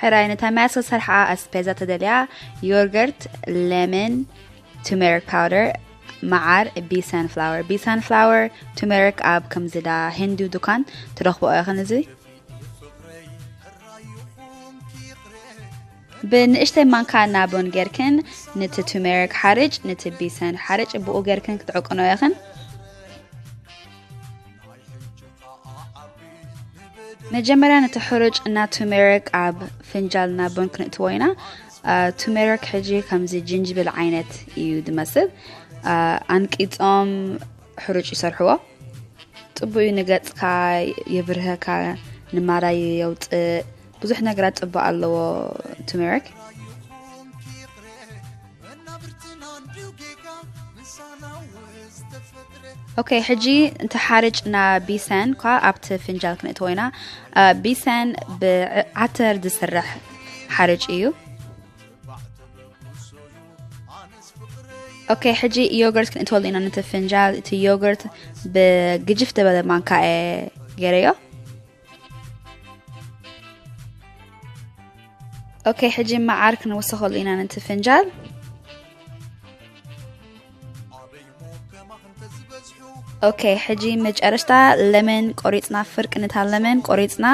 ሕራይ ነታ ማያት ዝተሰርሓ ኣስፔዛ ተደልያ ዮርገርት ለመን ቱሜሪክ ፓውደር መዓር ቢ ሳንፍላወር ቢ ሳንፍላወር ቱሜሪክ ኣብ ከምዚዳ ሂንዱ ዱካን ትረኽቦ ኢኽን እዚ ብንእሽተይ ማንካ ናቦን ጌርክን ነቲ ቱሜሪክ ሓርጭ ነቲ ቢሰን ሓርጭ ብኡ ጌርክን ክትዕቅኖ ኢኽን መጀመርያ ነቲ ሕሩጭ እና ቱሜሪክ ኣብ ፍንጃል እና ቡን ክንእትዎ ኢና ቱሜሪክ ሕጂ ከምዚ ጅንጅብል ዓይነት እዩ ዝመስል ኣንቂፆም ሕሩጭ ይሰርሕዎ ፅቡቅ እዩ ንገፅካ የብርሀካ ንማራይ የውፅእ ብዙሕ ነገራት ፅባቅ ኣለዎ ቱሜሪክ። ኦኬ ሕጂ እንተ ሓርጭ ና ቢሰን ኳ ኣብቲ ፍንጃል ክንእትዎ ኢና ቢሰን ብዓተር ዝስራሕ ሓርጭ እዩ ኦኬ ሕጂ ዮገርት ክንእትወሉ ኢና ነቲ ፍንጃል እቲ ዮገርት ብግጅፍ ዝበለ ማንካ ገይረዮ ኦኬ ሕጂ መዓር ክንውስኸሉ ኢና ነቲ ፍንጃል ኦኬ ሕጂ መጨረሽታ ለመን ቆሪፅና ፍርቂ ንታ ለመን ቆሪፅና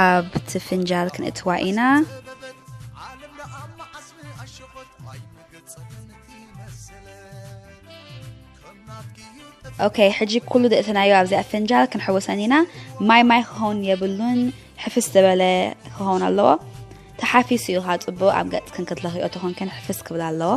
ኣብቲ ፍንጃል ክንእትዋ ኢና ኦኬ ሕጂ ኩሉ ደእተናዮ ኣብዚ ኣፈንጃል ክንሕወሰን ኢና ማይ ማይ ክኸውን የብሉን ሕፍስ ዝበለ ክኸውን ኣለዎ ተሓፊሱ እዩ ካ ፅቡቅ ኣብ ገፅ ክንክትለኽዮ ተኾንክን ሕፍስ ክብል ኣለዎ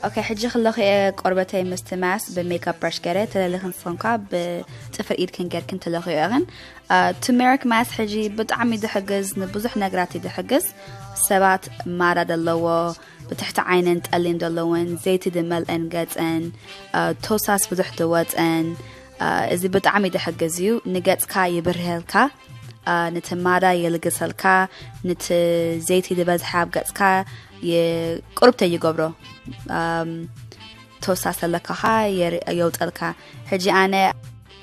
ኦኬ ሕጂ ክለኹ እየ ቆርበተይ ምስቲ ማስ ብሜካፕ ብራሽ ገረ ተለልኽን ፎንኳ ብፅፍር ኢድክን ገርክን ተለኽዮ እኽን ቱሜሪክ ማስ ሕጂ ብጣዕሚ ዝሕግዝ ንብዙሕ ነገራት እዩ ዝሕግዝ ሰባት ማራ ዘለዎ ብትሕቲ ዓይነን ጠሊም ዘለወን ዘይቲ ዝመልአን ገፀን ቶሳስ ብዙሕ ዝወፀን እዚ ብጣዕሚ ዝሕግዝ እዩ ንገፅካ ይብርህልካ ነቲ ማራ የልግሰልካ ነቲ ዘይቲ ዝበዝሐ ኣብ ገፅካ ቁርብተ ይገብሮ ቶሳስ ኣለካኻ የውፀልካ ሕጂ ኣነ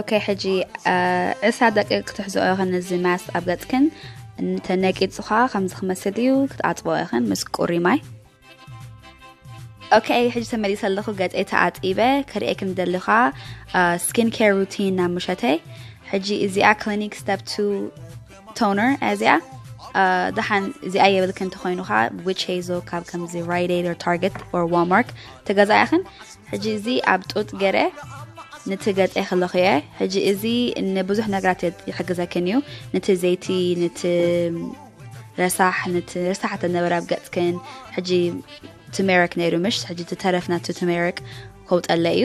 ኦኬ ሕጂ ዕስራ ደቂ ክትሕዝኦ ኢኽን እዚ ማስ ኣብ ገፅክን ተነቂፁ ከዓ ከምዚ ክመስል እዩ ክትኣፅቦ ኢኽን ምስ ቁሪ ማይ ኦኬ ሕጂ ተመሊሰ ኣለኹ ገፀይ ተኣፂበ ክርእየክ ንደሊ ከዓ ስኪን ኬር ሩቲን ናብ ምሸተይ ሕጂ እዚኣ ክሊኒክ ስተፕ ቱ ቶነር እዚኣ ደሓን እዚኣ የብልክ እንተኮይኑ ከዓ ዊች ሄዞ ካብ ከምዚ ራይደድ ታርገት ኦር ዋልማርት ተገዛእ ያኽን ሕጂ እዚ ኣብ ጡጥ ገረ ነቲ ገፀ ከለኹ እየ ሕጂ እዚ ንብዙሕ ነገራት ይሕግዘክን እዩ ነቲ ዘይቲ ነቲ ረሳሕ ነቲ ረሳሕ ተነበረ ኣብ ገፅክን ሕጂ ትሜሪክ ነይሩ ምሽ ሕጂ ተረፍ ናቲ ትሜሪክ ከውጠለ እዩ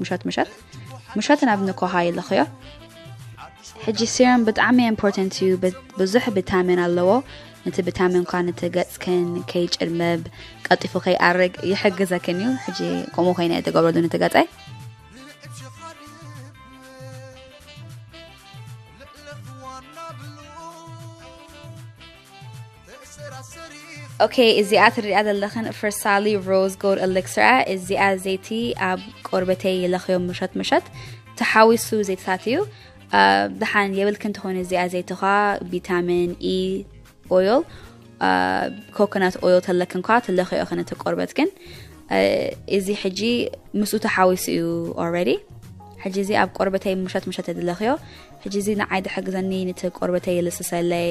ምሸት ምሸት ምሸት ናብ ንኮሃ ይልኽዮ ሕጂ ሲረም ብጣዕሚ ኢምፖርታንት እዩ ብዙሕ ቪታሚን ኣለዎ ነቲ ቪታሚን ኳ ነቲ ገጽክን ከይጭልመብ ቀጢፉ ከይኣርግ ይሕግዘክን እዩ ሕጂ ከምኡ ኮይነ የተገብረሉ ነቲ ገጸይ ኦኬ እዚኣ ትሪኣ ዘለኽን ፈርሳሊ ሮዝ ጎድ ኤሌክስራ እዚኣ ዘይቲ ኣብ ቆርበተይ ይለኽዮ ምሸት ምሸት ተሓዊሱ ዘይትታት እዩ ድሓን የብልክን ትኾኑ እዚኣ ዘይትኻ ቪታሚን ኢ ኦይል ኮኮናት ኦይል ተለክን ኳ ትለኽዮ ክነቲ ቆርበት ግን እዚ ሕጂ ምስኡ ተሓዊሱ እዩ ኦልሬዲ ሕጂ እዚ ኣብ ቆርበተይ ምሸት ምሸት የድለኽዮ ሕጂ እዚ ንዓይ ድሕግዘኒ ነቲ ቆርበተይ ይልስሰለይ